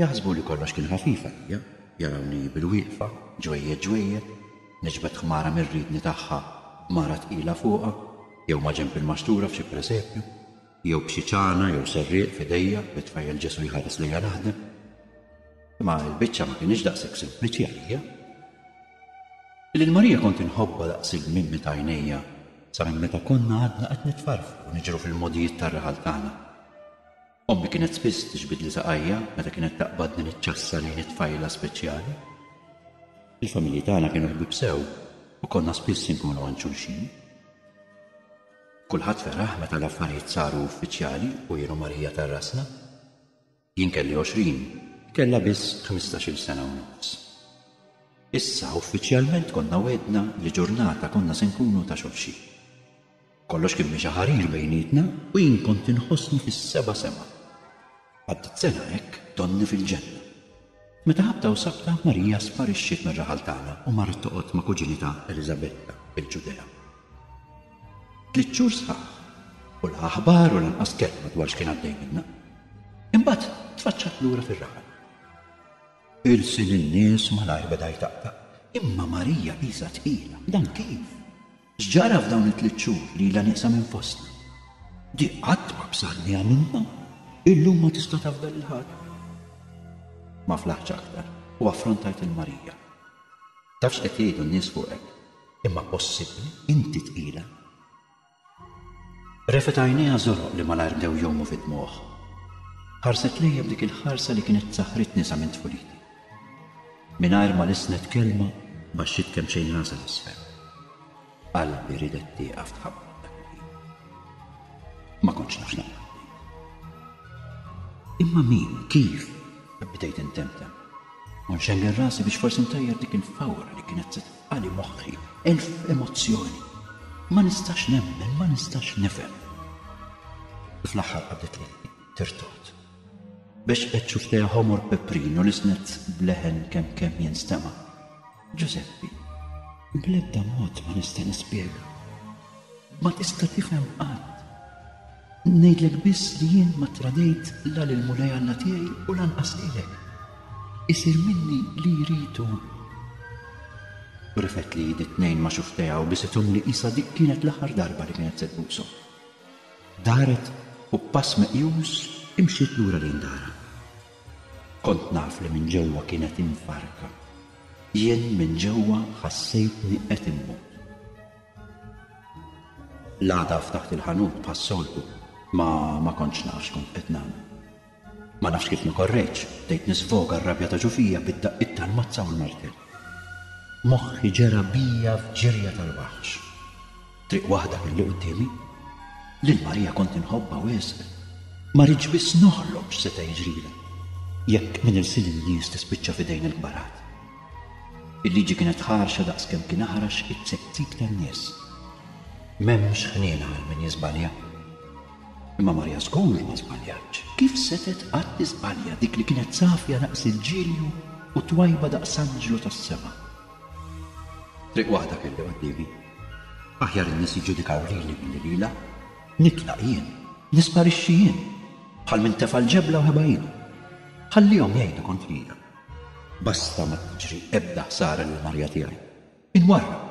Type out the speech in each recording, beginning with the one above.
Jaħsbu li kollox kien ħafif għalija, jarawni bilwieqfa, ġwejjed ġwejjed, niġbed ħmara mir-riedni tagħha b'mara tqila fuqha, jew maġenb il-maxtura f'xi presepju, jew b'xi ċana jew serrieq f'idejja bit-tfajjel Ġesù jħares lejja naħdem. Imma l-biċċa ma kinitx daqshekk sempliċi għalija. Lil Marija kont inħobbha daqs il-mimmi ta' għajnejja sa minn meta konna għadna qed nitfarfru u niġru fil-mogħdijiet tar-raħal tagħna. Ommi kienet spiss tiġbidli saqajja meta kienet taqbadni miċ-ċassa lejn it-tfajla speċjali. Il-familji tagħna kienu ħbieb sew u konna spiss inkunu għand xulxin. Kulħadd feraħ meta l-affarijiet saru uffiċjali u jien u Marija ta' rasna. Jien kelli għoxrin, hi kellha biss ħmistax-il sena u nofs. Issa uffiċjalment konna wegħdna li ġurnata konna se nkunu ta' xulxin. Kollox kien mexa ħarir bejnietna u jien kont inħossni fis-seba' sema. Għaddiet sena hekk donni fil-ġenna. Meta ħabta u sabta, Marija sparixxiet mir-raħal tagħna u marret toqgħod ma' kuġinitha Eliżabetta fil-Ġudea. Tliet xhur sħaħ, u la aħbar u lanqas kelma dwar x'kien għaddej minna. Imbagħad tfaċċat lura fir-raħal. Ilsi lin-nies malajr beda jtaqtaq, imma Marija qisha tqila. Dan kif? X'ġara f'dawn it-tliet xhur li ilha nieqsa minn fostna? Di qatt ma b'sarni għamiltha. Illum ma tista' tafda lil ħadd. Ma flaħtx aktar u affrontajt lil Marija. Taf x'qed jgħidu n-nies fuqek? Imma possibbli? Inti tqila? Refgħet għajnejha żoroq li malajr bdew jgħumu fid-dmugħ. Ħarset lejja b'dik il-ħarsa li kienet saħħritni sa minn tfuliti. Mingħajr ma lissnet kelma, baxxiet kemmxejn rasha 'l isfel. Qalbi riedet tieqaf tħabbat dak il-ħin. Ma kontx naf x'nagħmel Imma min, kif? Bdejt intemtem. U nxengel rasi biex forsi ntajjar dik il-fawra li kienet se tfqali moħħi, elf emozzjoni. Ma nistax nemmen, ma nistax nifhem. Fl-aħħar qabdet li tirtot. Biex qed xuf tea ħomor peprin u l-isnezz b'leħen kemm kemm jinstema'. Ġużeppi, bl-ebda mod ma nista' nispjega. Ma tista' tifhem qatt. Ngħidlek biss li jien ma ttradejt la lil Mulej Alla tiegħi u lanqas lilek. Isir minni li jrid hu. Rifgħet li id it-tnejn ma' xuf tea u bisithom li qisha dik kienet l-aħħar darba li kienet se tbushom. Daret u b'pass meqjus imxiet lura lejn darha. Kont naf li minn ġewwa kienet imfarrka. Jien minn ġewwa ħassejtni qed immut. L-għada ftaħt il-ħanut bħas-soltu, ma ma kontx naf x'kont qed nagħmel. Ma nafx kif ma korrejtx, bdejt nisfoga r-rabja ta' ġo fija bid-daqqiet tal-mazza u l-martell. Moħħi ġera bija f'ġirja tal-waħx. Triq waħda kelli quddiemi. Lil Marija kont inħobbha wisq. Ma ridtx biss noħlom x'seta' jiġrilha jekk minn irsil in-nies tispiċċa f'idejn il-kbarat. Il-liġi kienet ħarxa daqskemm kien aħrax it-tsektib tan-nies. M'hemmx ħniena għal min jiżbalja. Imma Marija żgur ma żbaljatx. Kif setgħet qatt tiżbalja dik li kienet safja daqs il-ġilju u twajba daqs anġlu tas-sema? Triq waħda kelli quddiemi. Aħjar in-nies jiġġudikaw lili milli lilha. Nitlaq jien. Nisparixxi jien. Bħal min tefa' l-ġebla u ħeba ilu. Ħallihom jgħidu kontrija. Basta ma tiġri ebda ħsara lil Marija tiegħi. Inwarrab!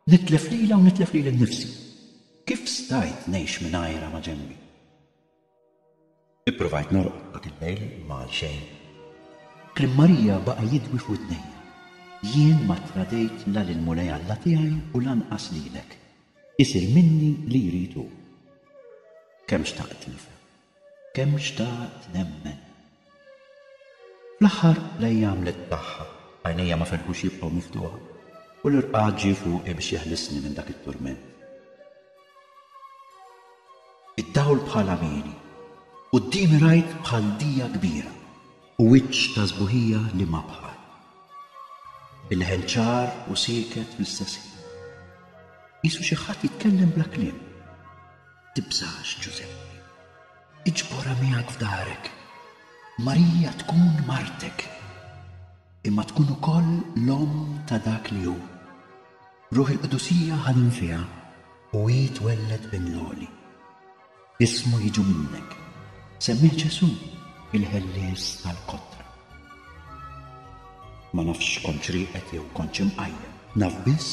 Nitlef lilha u nitlef lili nnifsi. Kif stajt ngħix mingħajrha ma' ġenbi? Ippruvajt norqod dak il-lejl imma għalxejn. Kliem Marija baqa' jidwi f'widnejja, Jien ma ttradejt la lil Mulej Alla tiegħi u lanqas lilek. Isir minni li jrid hu. Kemm xtaqt nifhem. kemm xtaqt nemmen. Fl-aħħar l-għajja għamlet tagħha, għajnejja ma ferħux jibqgħu miftuħa, u l-irqad ġie fuqi biex jeħlisni minn dak it-turment. Id-dawl bħala mieli. Quddiemi rajt bħal dija kbira. U wiċċ ta' sbuħija liema bħal. Il-leħen ċar u sieket fl-istess ħin. Qisu xi ħadd jitkellem bla kliem. Tibżax, Ġużeppi. Iġborha miegħek f'darek. Marija tkun martek, imma tkun ukoll l-omm ta' dak li hu. Ruħ il-Qdusija ħadem fiha u hi twelled Bin l-Għoli. Ismu jiġu minnek. Semmih Ġesù, il-ħellies tal-kotra. Ma nafx x'kontx rieqed jew kontx imqajjem. Naf biss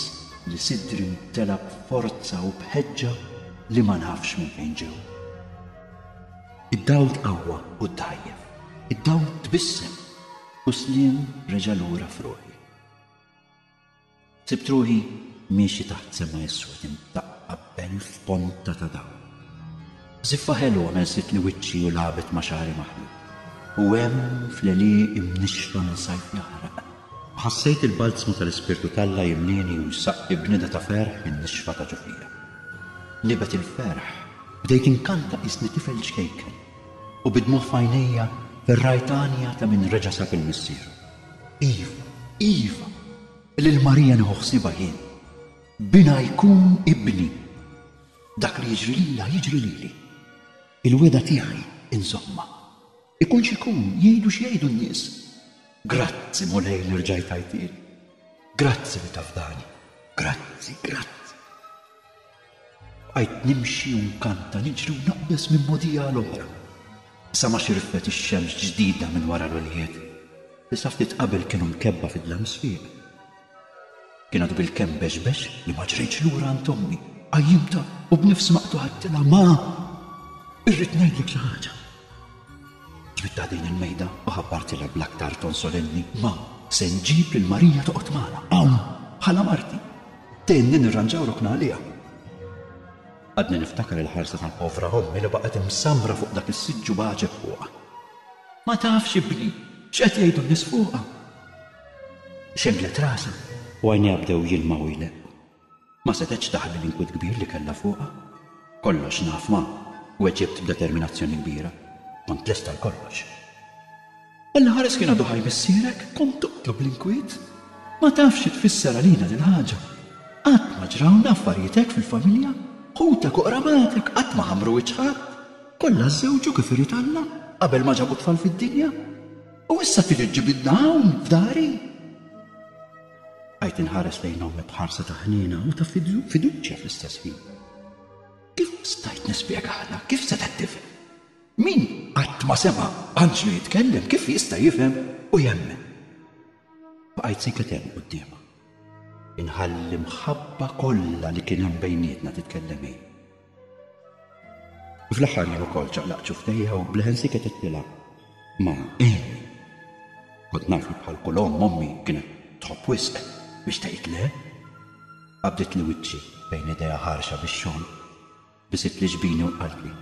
li sidri mtela' b'forza u b'ħeġġa li ma nafx minn fejn ġew. Id-dawl tqawwa u ddgħajjef. Id-dawl tbissem u Sliem reġa' lura f'ruħi. Sibt ruħi miexi taħt sema iswed imdaqqa b'belt f'ponta ta' dawl. Żiffa ħelwa messitli wiċċi u lagħbet ma' xagħri maħlub. U hemm fl-għelieq imnixxfa minn sajf jaħraq, ħassejt il-balzmu tal-Ispirtu t'Alla jimlieni u jsaqqi b'nida ta' ferħ in-nixfa ta' ġo fija. Nibgħet il-ferħ, bdejt inkanta qisni tifel ċkejken, u bid-dmugħ f'għajnejja ferrajt għanja ta' min reġa' sab il-missieru. Iva, iva, lil Marija nieħu ħsiebha jien. Binha jkun ibni. Dak li jiġri lilha jiġri lili. Il-wegħda tiegħi nżommha. Ikun x'ikun, jgħidu x'jgħidu n-nies. Grazzi, Mulej, li rġajt għajtieli. Grazzi li tafdani. Grazzi, grazzi. Bqajt nimxi u nkanta, niġri u naqbeż minn mogħdija għal oħra, sa ma xirfet ix-xemx ġdida minn wara l-għoljiet, li sa ftit qabel kienu mkebbha fid-dlam sfiq. Kien għadu bilkemm bexbex li ma ġrejtx lura għand ommi. Qajjimtha u b'nifs maqtugħa għedtilha, Ma! Irrid ngħidlek xi ħaġa. Twittaq din il-mejda u ħabbartilha bl-aktar ton solenni, Ma! Se nġib lil Marija toqgħod magħna hawn bħala marti. Tgħinni nirranġaw ruħna għaliha. Għadni niftakar il-ħarsa tal-povra ommi li baqgħet imsammra fuq dak is-siġġu b'għaġeb fuqha. Ma tafx, ibni, x'qed jgħidu n-nies fuqha! Xemlet rasha u għajnejha bdew jilmgħu jleqqu. Ma setgħetx taħbi l-inkwiet kbir li kellha fuqha. Kollox naf, ma, weġibt b'determinazzjoni kbira. Kont lest għal kollox. Inħares kien għadu ħaj missierek? Kont toqtlu bl-inkwiet? Ma tafx xi tfisser għalina dil-ħaġa. Qatt ma ġrawna affarijiet hekk fil-familja. Ħutek u qramatek qatt ma ħammru wiċċ ħadd. Kollha żżewġu kif irid Alla, qabel ma ġabu tfal fid-dinja. U issa tiġi ġġibidna hawn, f'dari? Bqajt inħares lejn ommi b'ħarsa ta' ħniena u ta' fiduċja fl-istess ħin. Kif stajt nispjegalha? Kif seta' tifhem? Min qatt ma sema' anġlu jitkellem kif jista' jifhem u jemmen? Bqajt sikket hemm quddiemha. Inħalli mħabba kollha li kien hemm bejnietna titkellem hi. Fl-aħħar jien ukoll ċaqlaq ċuftejja u bleħen siket ittilha. Ma eh. Kont naf li bħal kull omm ommi kienet tħobb wisq biex tgħid le. Qabdet li wiċċi bejn idejha ħarxa bix-xogħol. Bisit li ġbini u qaltli.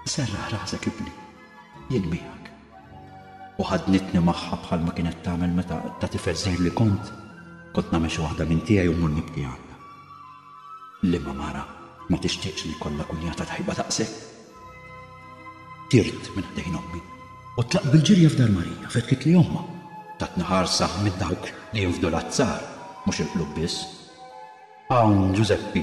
Serraħ rasek ibni. Jien miegħek. u ħaddnitni magħha bħalma kienet tagħmel meta ta' tifel żgħir li kont, kont nagħmel xi waħda minn tiegħi u mmur nibki għandha. Liema mara ma tixtieqx li jkollha kunjata tajba daqshekk? Tirt minn ħdejn ommi u tlaqt bil-ġirja f'dar Marija, fetħitli ommha, tatni ħarsa minn dawk li jinfdu l-azzar, mhux il-qlub biss. Hawn Ġużeppi!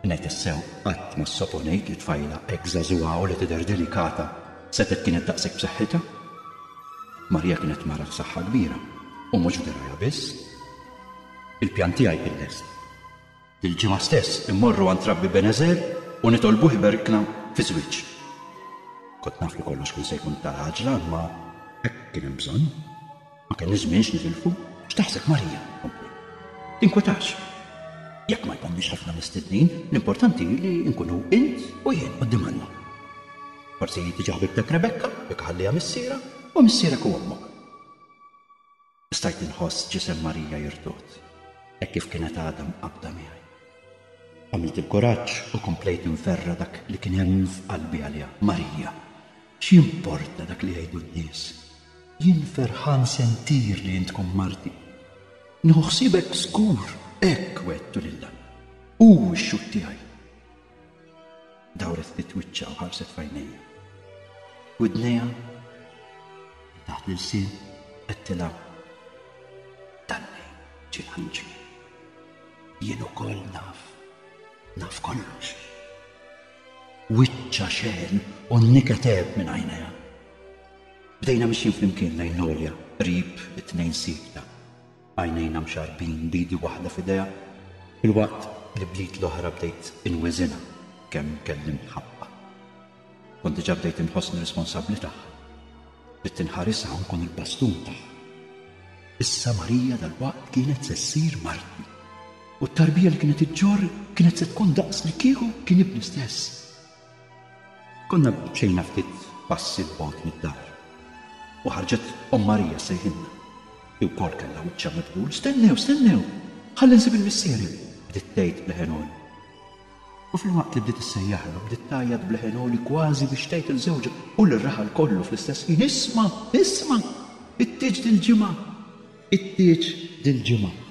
Ngħid is-sew, qatt ma ssoponejt li tfajla hekk żagħżugħa u li tidher delikata setgħet kienet daqshekk b'saħħitha. Marija kienet mara f'saħħa kbira u mhux f'dirgħajha biss. Il-pjan tiegħi kien lest. Il-ġimgħa stess immorru għand Rabbi Benezer u nitolbuh iberkna fi żwieġ. Kont naf li kollox kien se jkun ta' l-għaġla imma hekk kien hemm bżonn. Ma kellniex żmien x'nitilfu. X'taħseb Marija? kompli. Tinkwetax. Jekk ma jkomniex ħafna mistednin, l-importanti hi li nkunu int u jien quddiem Alla. Forsi tiġi ħbibtek Rebekka, jekk iħalliha missierha, u missierek u ommok. Stajt inħoss ġisem Marija jirtod, hekk kif kienet għadha mqabbda miegħi. Għamilt il-kuraġġ u komplejt inferra' dak li kien hemm f'qalbi għaliha, Marija. X'jimporta dak li jgħidu n-nies? Jien ferħan sentir li int tkun marti. Nieħu ħsiebek żgur, hekk wegħdtu lil Alla. Hu x-xhud tiegħi. Dawret ftit wiċċha u ħarset f'għajnejja. Widnejha minn taħt l-ilsien għedtilha Dallejn ġie l-anġlu. Jien ukoll naf. Naf kollox. Wiċċha xeħen u n-niket għeb minn għajnejha. Bdejna mixjin flimkien lejn l-għolja, qrib it-tnejn siekta, għajnejna mxarrbin b'idi waħda f'idejha, filwaqt li bl-id l-oħra bdejt inwiżinha kemm kelli mħabba. Kont diġà bdejt inħossni responsabbli tagħha. Bdiet inħarisha u nkun il-bastun tagħha. Issa Marija dalwaqt kienet se ssir martni. U t-tarbija li kienet iġġorr kienet se tkun daqs li kieku kien ibni stess. Konna mxejna ftit passi 'l bogħod mid-dar u ħarġet Omm Marija ssejħilna. Hi wkoll kellha wiċċha mibdul, stennew, stennew, ħalli nsib il-missieri, bdiet tgħid b'leħen għoli. U filwaqt li bdiet issejjaħlu, bdiet tgħajjat b'leħen għoli kważi biex tgħid 'il żewġha u lir-raħal kollu fl-istess ħin, 'Isma', isma'! It-tieġ dil-ġimgħa! It-tieġ dil-ġimgħa!